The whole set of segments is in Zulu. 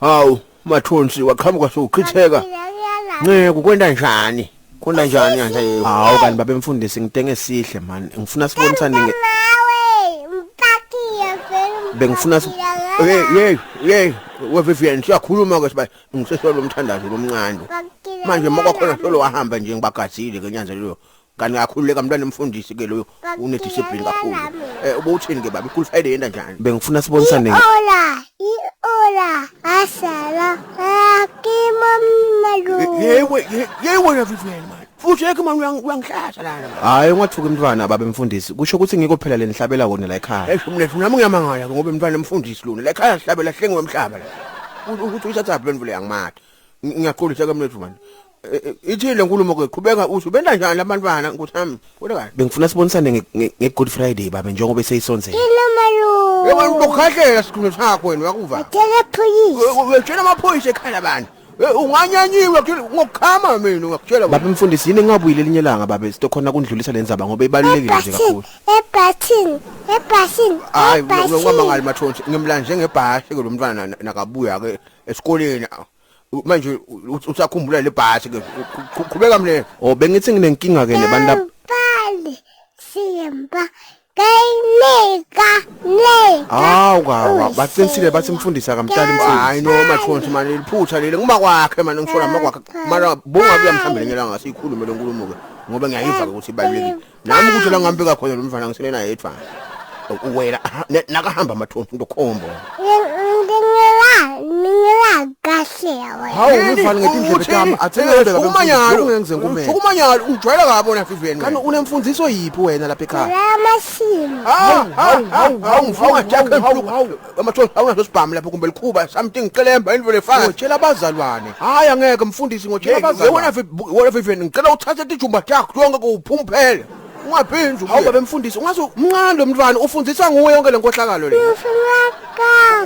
Hawu mathonsi waqhamuka sochitheka. Nceku kwenda njani? Kwenda njani yanje yebo? Hawu kanti babe mfundisi ngitenge sihle man. Ngifuna sibonisane nge Bengifuna si Hey hey hey weVivian siyakhuluma ke siba ngisesolo umthandazo lomncane. Manje makakhona solo wahamba nje ngibagazile ke nyanzelelo Kanti ngakhululeka mntwana mfundisi ke loyo une discipline kakhulu. Eh ubowuthini ke baba ikhulu Friday yenda njani? Bengifuna sibonisane. Ola, iola, asala, akimo mnalu. Yewe yewe na Vivian man. Futhi yeke man uyangihlasa lana. Hayi ungathuki umntwana baba mfundisi. Kusho ukuthi ngikho phela lenihlabela wona la ekhaya. Esho mnethu nami ngiyamangala ke ngoba mntwana mfundisi lona la ekhaya sihlabela hlengiwe emhlaba la. Ukuthi uyithatha phi lemvule yangimatha. Ngiyaxolisa ke mnethu man. ithi le nkulumo ke qhubeka usho benda njani labantwana nkosi yami kodwa kahle bengifuna sibonisane nge-good friday babe njengoba eseyisonzela yebo ukhahlela sikhulume sakho wena wakuva ngitshela phoyisa wetshela amaphoyisa ekhala abantu unganyanyiwe ngokukhama mina ngakutshela babe mfundisi yini engabuyile elinye langa babe sitokhona kundlulisa le ndzaba ngoba ibalulekile nje kakhulu ebhathini ebhathini hayi ungamangali mathonsi ngimlanje ngebhashe ke lo mntwana nakabuya ke esikoleni U- manje u- u- usakhumbula le bhasi ke Qhu- qhubeka mle Oh bengithi nginenkinga ke nebantu lab- Bali simba kayinika le. Hawu kawa baqinisile bathi mfundisi akamtshali mfundisi. hayi no mathonsi mani liphutha leli nguma kwakhe mani ngisho lama kwakhe mara bungabuya mhlawumbe lenye langa siyikhulume le nkulumo ke ngoba ngiyayiva ke ukuthi ibalulekile nami ukuthi la ngambeka khona lomfana ngisele naye yedwa uwela nakahamba amathonsi into khombo hawu umfana ngetindlebe tami athengeke umanyalo ngenze ngumele umanyalo ujwayela kabi wena fiveni kanti unemfundiso yiphi wena lapha ekhaya la mashini hawu hawu hawu hawu hawu amathola awunaso sibhamu lapho kumbe likhuba something qelemba into lefana ngitshela abazalwane hayi angeke mfundisi ngitshela abazalwane wena fi- wena vivian ngicela uthathe tijumba takho konke kuwuphumphele ungaphinzi hawu babe mfundisi ungaze umncane lo mntwana ufundiswa nguwe yonke le nkohlakalo le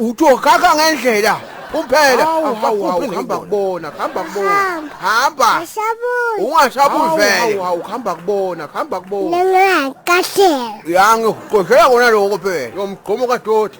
uthi okaka ngendlela Kuphela Hawu, hawu, hawu, hamba hamba kubona, hamba kubona. Hamba. Ashabuzi. Ungashabuzi Hawu, vele. hawu, hawu, hamba kubona, hamba kubona. Nangakahleka. Yangi uqoshela kona lokho phela. Yomgqomo kadoti.